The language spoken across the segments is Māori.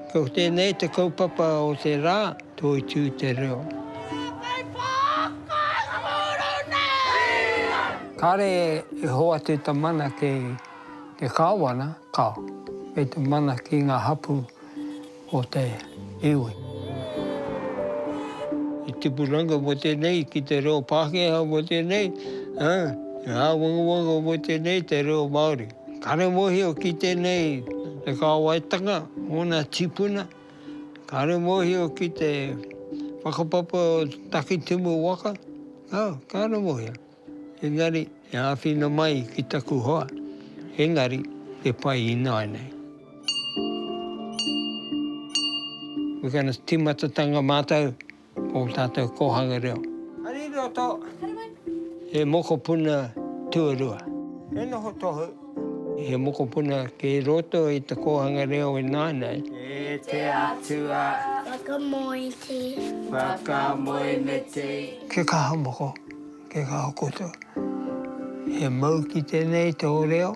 Ko tēnei te kaupapa o te rā, Toitū te reo. Kāre e hoatu ta mana ki te Kāwana, ka, kei te mana ki ngā hapū Ko te iwi. He tipuranga mo tenei ki te reo Pakeha mo tenei, ha, he awangawanga mo tenei te reo Maori. Kare mohio ki tenei te kawaitanga ona tipuna, kare mohio ki te whakapapa o Takitimu waka, ha, kare mohio. Engari, e āwhina mai ki taku hoa, engari e pai ināianei. We're going to timatatanga mātou o tātou kōhanga reo. Hari roto. Hari mai. He mokopuna tuarua. He noho tohu. He mokopuna kei roto i te kōhanga reo ināianei. E te Atua. Whakamoe te. Whakamoe me te. Ke kaha moko. Kei ngā koutou. He mau ki tenei to reo.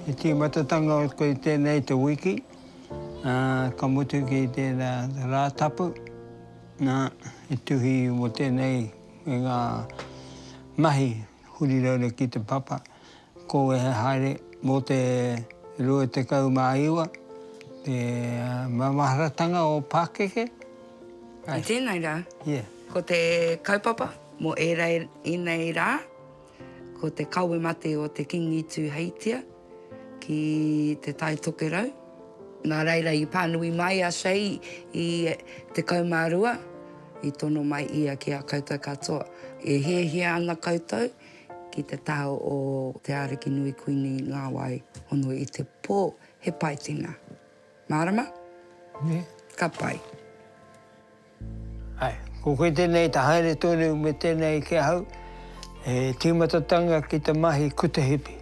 He timatatanga o koe tenei to wiki. Ka mutu ki tera ra tapu. Na, he tuhi mo tenei. me ngā mahi huri raura ki te papa, ko wehe haere mō te 29 te mamaharatanga o Pākeke. I tēnei rā, ko te kaupapa mō ērā i nei rā. Ko te kawe mate o te Kingi i tū hei tia ki Te Tai Tokerau. Nā reira i pānui mai a Shea i 12, i tono mai ia ki a koutou katoa, E hiahia ana koutou ki te taha o Te Ariki Nui Kuini Ngāwai Hono i te pō, he pai tēnā. Mārama? Nē. Ka pai. Ae, ko koe tenei te haere tonu me tenei ki ahau, he timatatanga ki te mahi kuta hipi.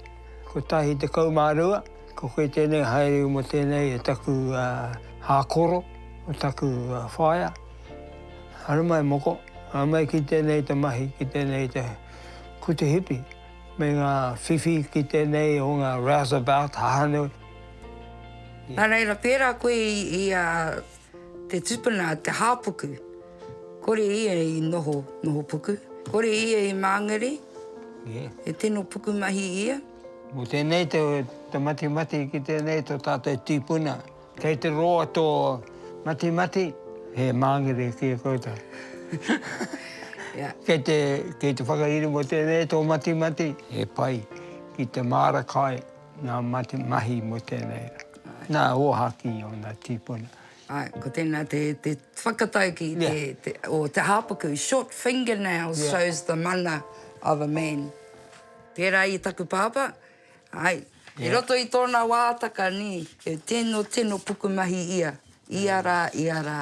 Kotahi tekau ma rua, ko koe tenei haere mo tenei e taku hakoro, mo taku whaea. Haere mai moko, haere mai ki tenei te mahi, ki tenei te kuta hipi, me nga whiwhi ki tenei o nga rouseabout, hahanu. Na reira, pera koe i a Te tupuna a Te Hāpuku, kore ia i noho, noho puku. Kore ia i māngere, he tino pukumahi ia. Mō tēnei te matimati ki tēnei tō tātou tīpuna. Kei te roa tō matimati, he māngere ki a koutou. Kei te whakairi mō tēnei tō matimati, he pai ki te māra kai. Ngā mate mahi mō tēnei rā. Nā Ōhākī ōna tīpuna. Āe, ko tēnā te whakataukī o te hāpuku, short fingernails shows the mana of a man. Pērā i taku pāpā, āe, i roto i tōna wātaka, nē, he tino, tino pukumahi ia, ia rā, ia rā,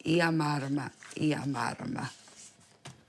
ia mārama, ia mārama.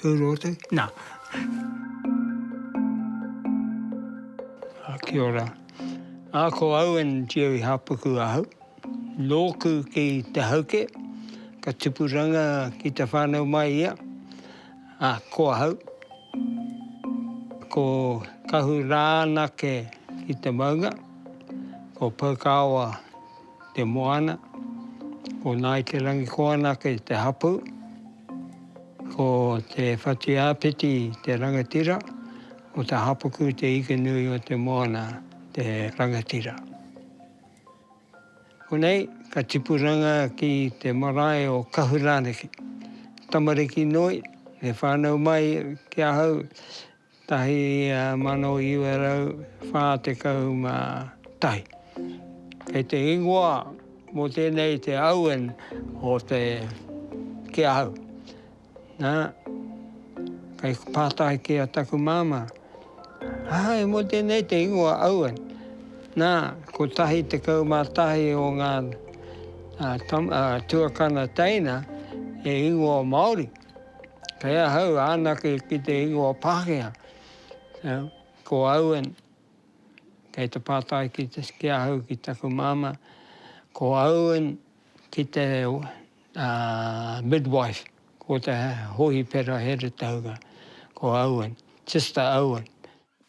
Tū rōtu, nā. Ā, kia ora. Ā, ko Owen Jerry Hāpuku ahau. Nōku ki Te Hauke, ka tupuranga ki te whānau mai ia. Ā, ko ahau, ko Kahu Rānake ki te maunga, ko Poukāoa te moana, ko Ngāi Te Rangikoana ki te hapū. Ko te whati āpiti te rangatira, ko Te Hapuku te ika nui o te moana te rangatira. Konei ka tipuranga ki te marae o Kahurānaki, tamariki noi, me whānau mai ki ahau, 1941. Kei te ingoa mō tēnei te Owen o te ki ahau. Nā, kei pātai ki a taku māmā, āe mō tēnei te ingoa Owen. Nā, 111 o ngā tuakana teina e ingoa Māori. Kei ahau anake ki te ingoa Pākehā. Ko Owen, kei te pātai ki, te, ki ahau ki taku māma, ko Owen ki te uh, midwife, ko te hohipera heretauga, ko Owen, Sister Owen.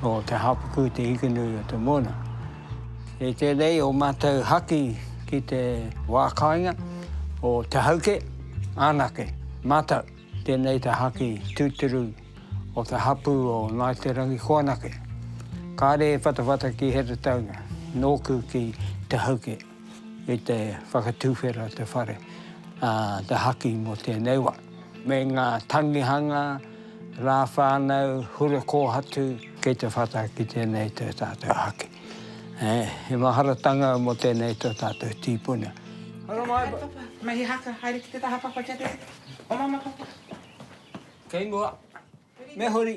Ko Te Hapukū te ikonui o te moana. Kei tēnei o mātou haki ki te wā kāinga o Te Hauke, anake, mātou. Tēnei te haki tūturu o te hapū o Ngāi Te Rangikoanake. Kāre e whatawhata ki Heretaunga, nōku ki Te Hauke. i te whakatuwhera te whare, ā, te haki mō tēnei wā. Me ngā tangihanga, rā whānau, hura kōhatu. Kei te whata ki tēnei tō tātou haki. He maharatanga mō tēnei tō tātou tīpuna. Ora mai, papa. Me he haka, haere ki te taha papa kia te. Oma ana papa. Kei mua. Me huri.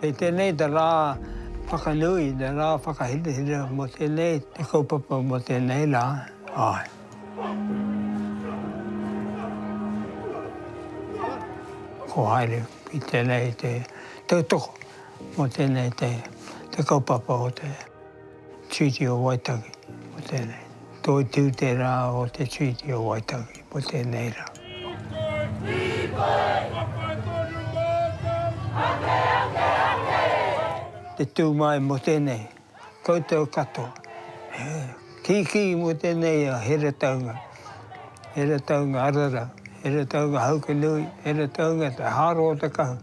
Kei tēnei te rā whakanui, te rā whakahirahira mō tēnei te kaupapa mō tēnei rā, āe. Ko haere ki tēnei te tautoko mō tēnei te kaupapa o te. Treaty o Waitangi, mō tēnei. Toitū te rā o te Treaty o Waitangi, mō tēnei rā. Te tū mai mō tēnei, koutou katoa. Kīkī mō tēnei a Heretaunga, Heretaunga Arara, Heretaunga Haukinui, Heretaunga Te Haro o Te Kahu.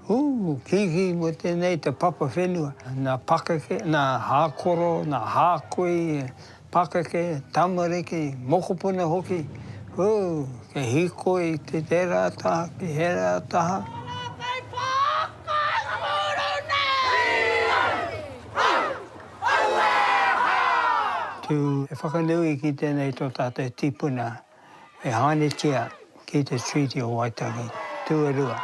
Hū! Kīkī mō tēnei te papa whenua. Nā pakeke, nā hākoro, nā hākui, pakeke, tamariki, mokopuna hoki, hū! Kei hīkoi ki tērā taha, ki hērā taha. Tū e whakanui ki tēnei tō tātou tīpuna E haeretia ki te Treaty o Waitangi, tuarua.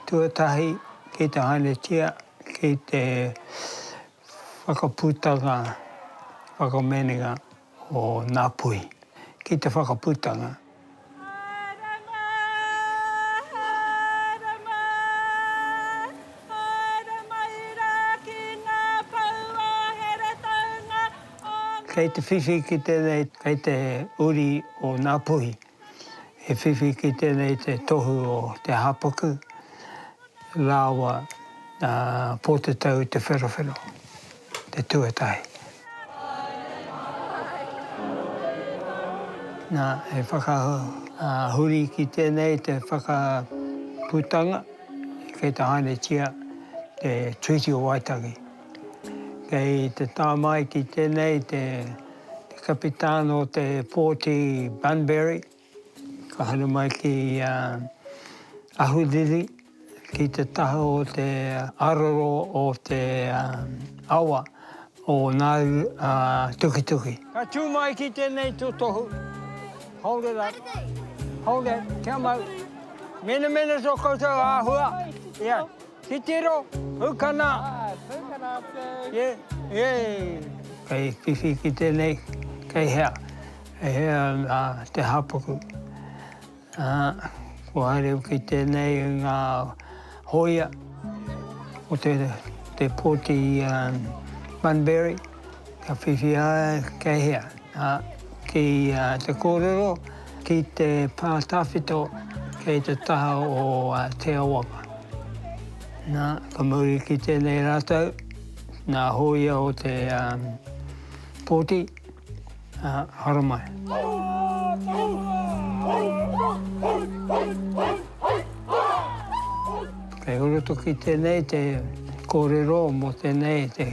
Tuatahi, ki te haeretia ki te whakaputanga, whakamanenga o nga puhi. Ki te whakaputanga. Kei te whiwhi ki tēnei, kei te uri o Ngāpuhi, he whiwhi ki tēnei te tohu o Te Hāpuku rāua a Pōtatau Te Wherowhero, te tuatahi. Nā, he whakahuri ki tēnei te whakaputanga kei te hainatia te Treaty o Waitangi. Kei te tāmaiti tēnei te kapitāna o te pōti Bunbury, ka haere mai ki Ahuriri, ki te taha o te aroro o te awa o Ngāu Tukituki. Ka tū mai ki tēnei tūtohu, hold it up, hold it, kia mau, menemene tō koutou āhua, ia. Titiro, Pūkana, Yay! Kei whiwhi ki tenei, kei hea, kei hea nga te hapuku. Kua haere ki tenei nga hoia o te poti Bunbury. Ka whiwhia kei hea? Ki te kōrero, ki te pā tawhito kei te taha o Te Awaka. Nā, ka mauri ki tēnei rātou, nā hōia o te pōti, haramai. Kei horotoki tēnei te kōrero mō tēnei te.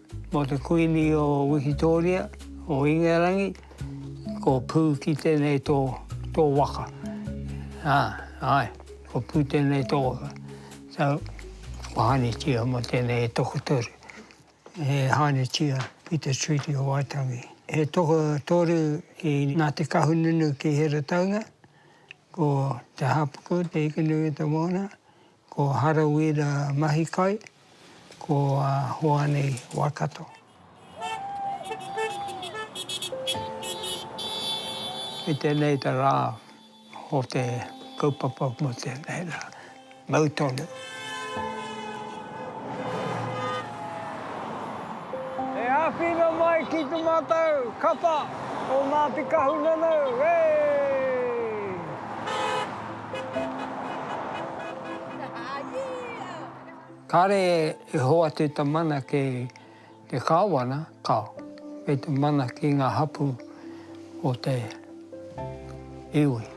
Mō te Kuini o Wikitōria, o Ingarangi, ko Pū ki tēnei tō, tō waka. Ā, āe, ko Pū tēnei tō waka. So, whakahanetia mō tēnei e tokotoru. E hanetia ki te Treaty o Waitangi. He tokotoru ki Ngāti Kahungunu ki Heretaunga, ko Te Hāpuku, Te Ikanui o Te Moana, Ko Harawira Mahikai, ko Hoani Waikato. I tenei ta ra o te kaupapa mo tenei ra. Mau tonu. E awhina mai ki to matou kapa o Ngati Kahungunu, wee! Kāre e hoatu te mana ki te kāwana, ka, me te mana ki ngā hapū o te iwi.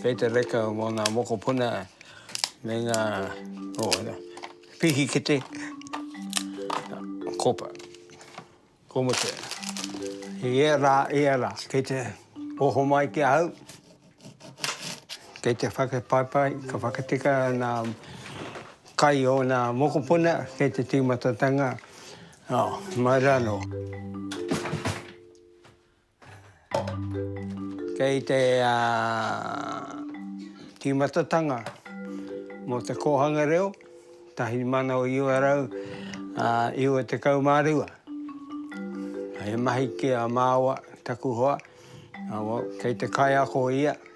Kei te reka mō ngā mokopuna me ngā pihikete, kopa. Ko Muse. He ia rā, ia rā. Kei te oho mai ki ahau, kei te whakapaipai, ka whakatika ana kai o nā mokopuna kei te tīmatatanga, oh, mai rā nō. Kei te tīmatatanga mō te kōhanga reo, 1992. He mahi ki a māua, taku hoa, kei te kaiako ia.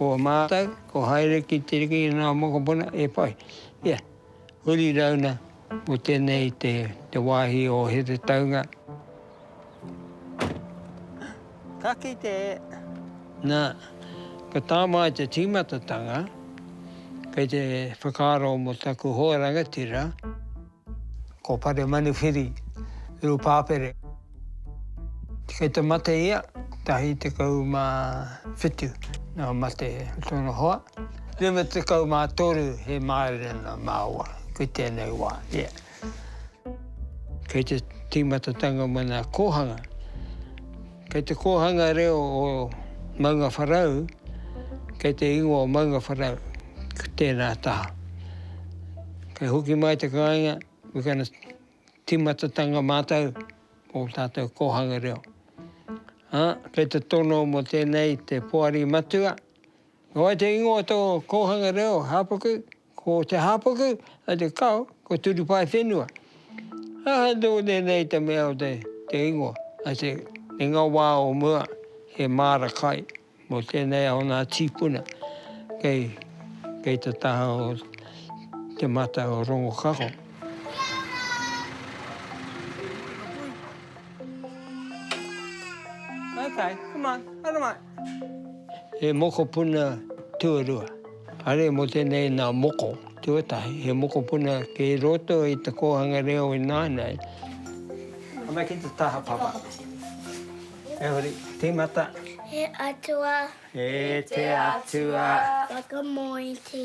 Ko mātou, ko haere ki te riki i ngā mokopuna e whai. Ia, huri rauna mō tēnei te, te wāhi o Heretaunga. Ka kite e. Nā, ka tā māi te tīmatatanga, kei te whakaaro mō taku hoa rangatira. Ko Pare Manuwhiri Rupapere. Kei te mate ia, kotahi tekau ma whitu nō mate tōna hoa, rima tekau ma toru he mārena māua ki tēnei wā, ia. Kei te tīmatatanga mō nā kōhanga. Kei te kōhanga reo o Maungawharau, kei te ingoa o Maungawharau ki tēnā taha. Kei hoki mai te kāinga, we're going to tīmatatanga mātou o tātou kōhanga reo. Ā, kei te tono mō tēnei te Poari Matua, Ko wai te ingoa o tō kōhanga reo, Hāpuku? Ko te hāpuku a te kao, ko Turupae whenua. Aha nō tēnei te mea o te ingoa? I say, i ngā wā o mua, he māra kai mō tēnei o ngā tīpuna kei, kei te taha o Te Mata o Rongokako. Okay, come on, haere mai. He mokopuna tuarua. Haere mō tēnei nā moko tuatahi. He mokopuna kei roto i te kōhanga reo i nāianei. Ana ki te taha papa. E hori, tīmata. He atua. He te atua. Whakamoe te.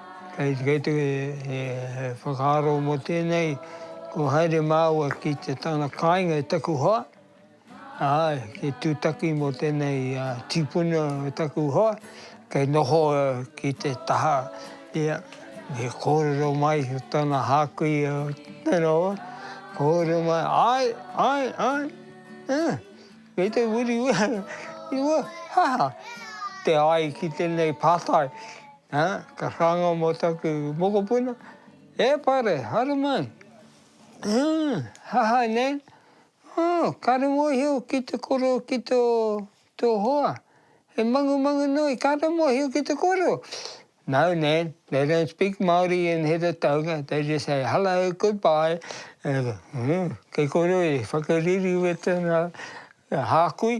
Kei te whakaaro mō tēnei, kua haere māua ki te tana kāinga i taku hoa, ā, he tūtaki mō tēnei tīpuna o taku hoa, kei noho ki te taha, ia, me kōrero mai ki tōna hākui, tēnā hoa, kōrero mai, āe, āe, āe, ā, kei te wiriwiri, i mua, ha! te āe ki tēnei pātai. Ā, ka whāngai mō taku mokopuna, E Pare, haere mai! Ā, hahai nei, Ā, kāre mōhio ki te kōrero ki tō, tō hoa. He mangumangu nui, kāre mōhio ki te kōrero. No, Nan, they don't speak Māori in Heretaunga, they just say hello, goodbye. Kei kōrero i whakaririwetana hākui.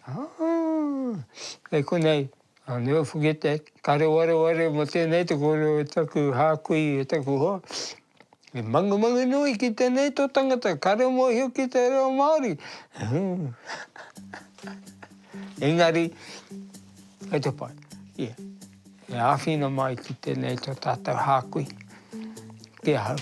Ā, kei konei. Nā, me ofu ki te karewarewareo mō tēnei te kōrero o taku hākui, o taku hoa. He mangumangu nui ki tēnei tō tangata, kare mōhio ki te reo Māori. Engari, kei te pai. Yeah. E āwhina mai ki tēnei tō tātou hākui. Ki ahau.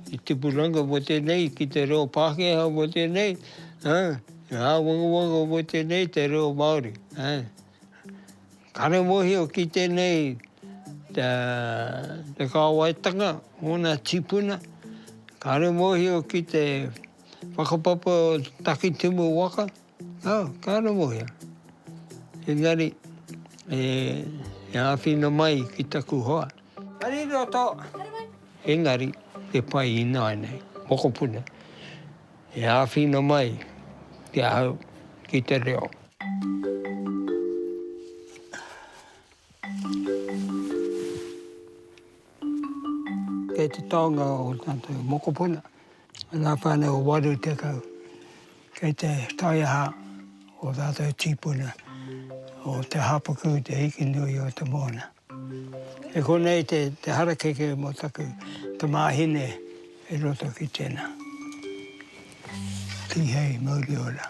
He tipuranga mo tenei ki te reo Pakeha mo tenei, he awangawanga mo tenei te reo Maori. Kare mohio ki tenei te kawaitanga mona tipuna, kare mohio ki te whakapapa takitimu waka, Oh, ka rongohia. Engari, e, e āwhina mai ki taku hoa. Ariroto! Engari, e pai ināianei, mokopuna, e āwhina mai ki ahau, ki te reo. Kei te taonga o tātou mokopuna. Ngā whānau 80 kei te taiaha o ō rātou tīpuna, o Te Hāpuku, Te Hikinui, o Te Moana. E konei te harakeke mō taku tamāhine i roto ki tēnā. Tihei mauri ora.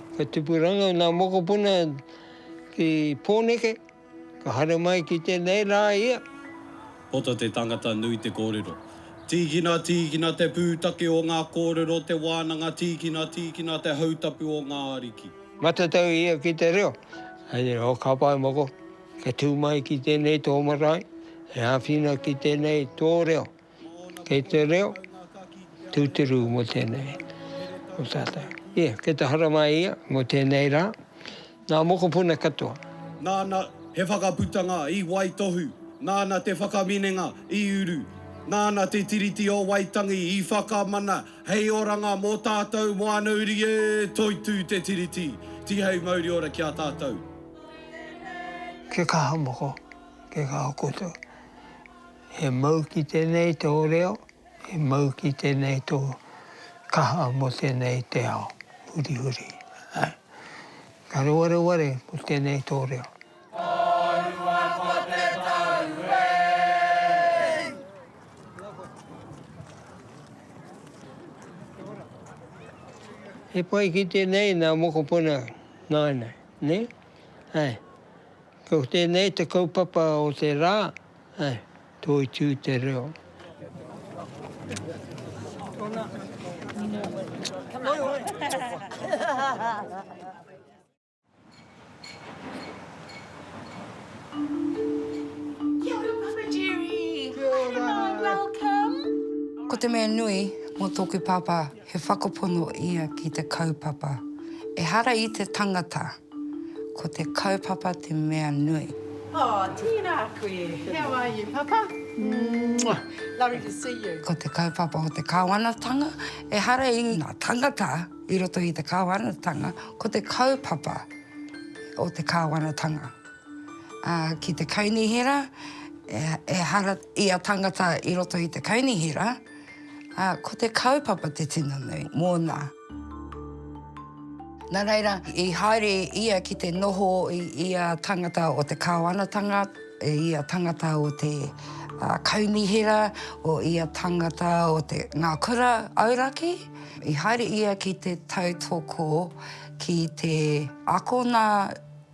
Ka tupuranga nā mokopuna ki Pōneke, ka haere mai ki tēnei rā ia. Poto te tangata nui te kōrero. Tīkina, tīkina te pūtake o ngā kōrero, te wānanga, tīkina, tīkina te hautapu o ngā ariki. Matatau ia ki te reo. Hei reo ka pae moko, ka tū mai ki tēnei tō marae, he āwhina ki tēnei tō reo. Kei te reo tūturu mō tēnei o tātou. Ia, kei te hara mai ia mō tēnei rā, nā mokopuna katoa. Nāna he whakaputanga i waitohu, nāna te whakaminenga i uru, nāna te Tiriti o Waitangi i whakamana hei oranga mō tātou wānauri e! Toitū te Tiriti, tihei mauri ora ki a tātou. Kia kaha moko, kia kaha koutou. He mau ki tēnei tō reo, he mau ki tēnei tō kaha mō tēnei te ao hurihuri. Ka rewareware mō tēnei tō reo. He pai ki tēnei nā mokopuna nāna, nē? Āe. Ko tēnei te kaupapa o te rā. He toitū te reo. Ko te mea nui mō tōku pāpā he whakapono ia ki te kaupapa. Ehara i te tangata. Ko te kaupapa te mea nui. Oh, tēnā koe. How are you, Papa? Mwah! Lovely to see you. Ko te kaupapa o te Kāwanatanga, ehara i ngā tāngata i roto i te Kāwanatanga, ko te kaupapa o te Kāwanatanga. Ā, ki te kaunihera, ehara ia tāngata i roto i te kaunihera, ā, ko te kaupapa te tino nui mōna. Nā reira, i haere ia ki te noho i ia tangata o te Kāwanatanga, i ia tangata o te Kaunihera, o ia tangata o te Ngā Kura Auraki. I haere ia ki te tautoko, ki te akona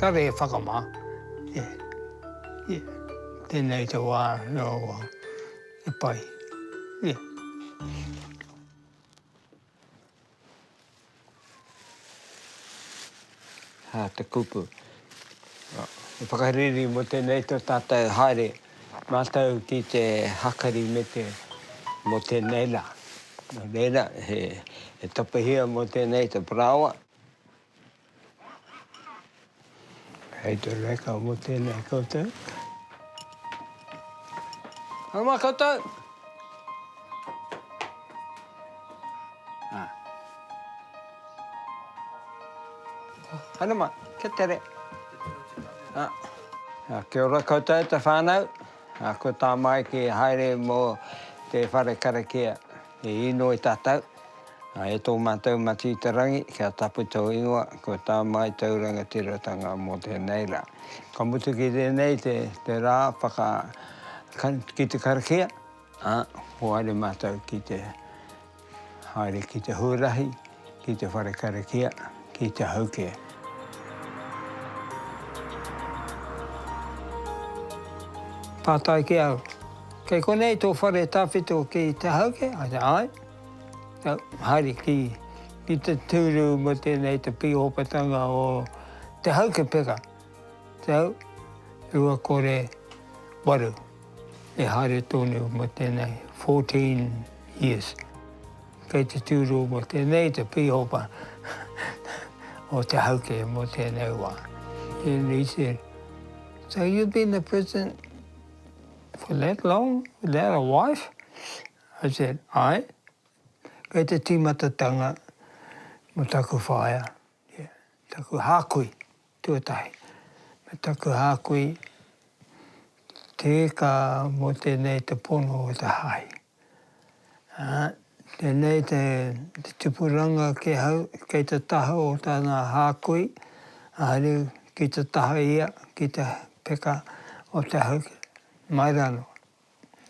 Kare e whakama, tenei te wa rawa e pai. Ha, te kupu. E whakariri mo tenei to tatou haere matou ki te hakari me te mo tenei la. No reira he tapahia mo tenei te paraoa. Hei te reka mo tena koutou. Haere mai koutou. Ah. Haere mai, kia tere. Ah. Ah, kia ora koutou te whānau. Ah, ko tā Maiki haere mo te whare karakia. E inoi tatou, e to matou Matitarangi kia tapu tou ingoa ko ta Mai tou rangatiratanga mo tenei ra. Ka mutu ki tenei te ra whaka ki te karakia, a, ko haere matou ki te haere ki te huarahi, Ki te whare karakia, ki te hau kē. Pātai ki au, Kei konei tō whare tawhito ki te hau kē? I said, Āe. Now, haere ki, ki te tūru mō tēnei te pīhopatanga o te hau kē peka. So, rua kore waru, e haere tonu mō tēnei 14 years. Kei te tūrū mō tēnei te pīhopa o Te Hauke mō tēnei wā. And he said, so you've been in the prison for that long without a wife? I said, aye. Kei te tīmatatanga mō taku whaea, yeah, taku hākui. Tuatahi, me taku hākui, te eka mō tēnei te pono o te hahi. Tēnei te tupuranga ki ahau, kei te taha o tana hākui, haere ki te taha ia ki te peka o te hahi, mai rānō.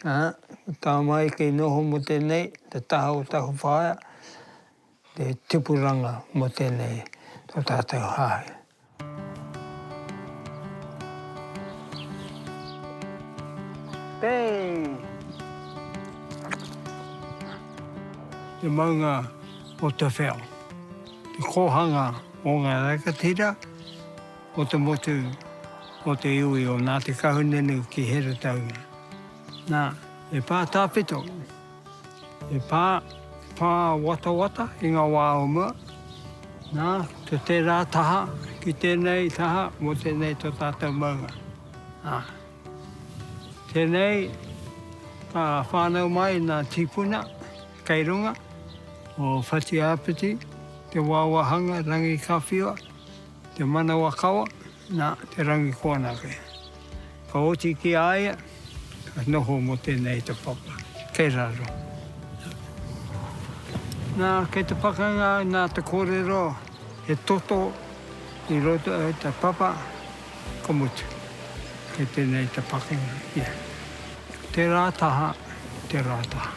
Ā, ko Tāmai kei noho mō tēnei, te taha o taku whaea, te tipuranga mō tēnei, tō tātou hāhi. Pei! Te maunga o te wheo. Te kōhanga o ngā rangatira. o te motu o te iwi o Ngāti Kahungunu ki Heretaunga. Nā, he pā tāpito, he pā, pā watawata i ngā wā o mua, nā, to tērā taha ki tēnei taha mō tēnei to tātou maunga. Ā, tēnei ka whānau mai nā tīpuna kei runga, o Whatiāpiti, Te Wāwāhanga, Rangikawhiwa, Te manawakawa, nā, te rangi ko anake. Ka oti ki a ia, ka noho mō tēnei te papa, kei raro. Nā, kei te pakanga nā te kōrero, he toto i roto i te papa, ka mutu. Kei tēnei te pakanga ia. Tērā taha, tērā taha.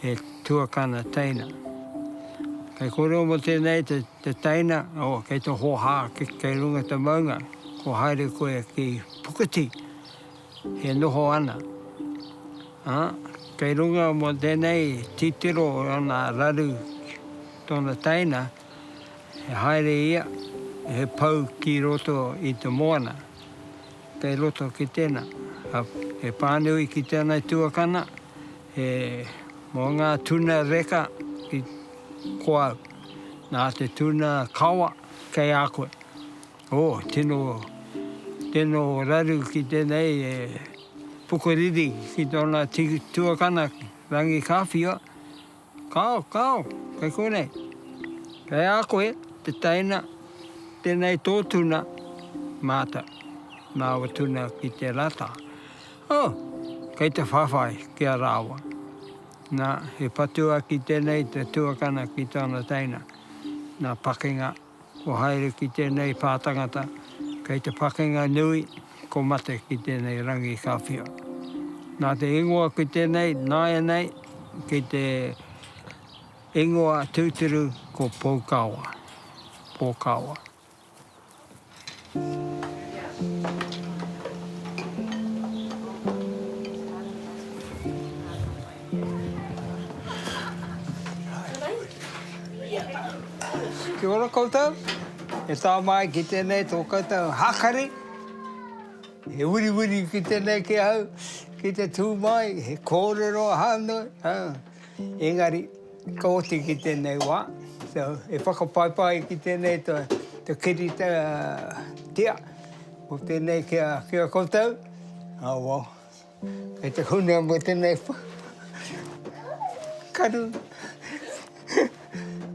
he tuakana teina. Kei kōrero mō tēnei te, te teina, o, kei te hoha ki, kei runga te maunga, ko haere koe ki Pukiti, he noho ana. Ā, kei runga mō tēnei titiro o ana raru tōna teina, he haere ia, he pau ki roto i te moana. Kei roto ki tēnā, he pānui ki tēnā i tuakana, he mō ngā tuna reka ki ko au, nā te tuna kawa kei a koe. Ō, tino, tino raru ki tēnei e pukuriri ki tōna tuakana Rangi Kāwhia, Kao, kao, kei konei. Kei a koe te teina, tenei tō tuna, mātau. Māua tuna ki te rata. Oh, kei te whawhai ki a rāua. Na, he patua ki tenei te tuakana ki tōna teina. Na, pakenga. Kua haere ki tēnei pā tangata, kei te whakenga nui, ko mate ki tēnei rangi ka whiua. Nā te ingoa ki tēnei, nāianei ki te ingoa tūturu ko Poukawa, Pōkawa. Kia ora koutou, e tā māi ki tēnei tō koutou hākari. He wiriwiri ki tēnei ki ahau, ki te tū māi, he kōrero ahau nei. Engari, ka oti ki tēnei wā, so, e whakapaipai ki tēnei to, to kirita tia, ko tēnei ki a, ki a koutou, oh well, kei te hunua mo tēnei wha, karu,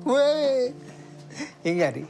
wee, engari.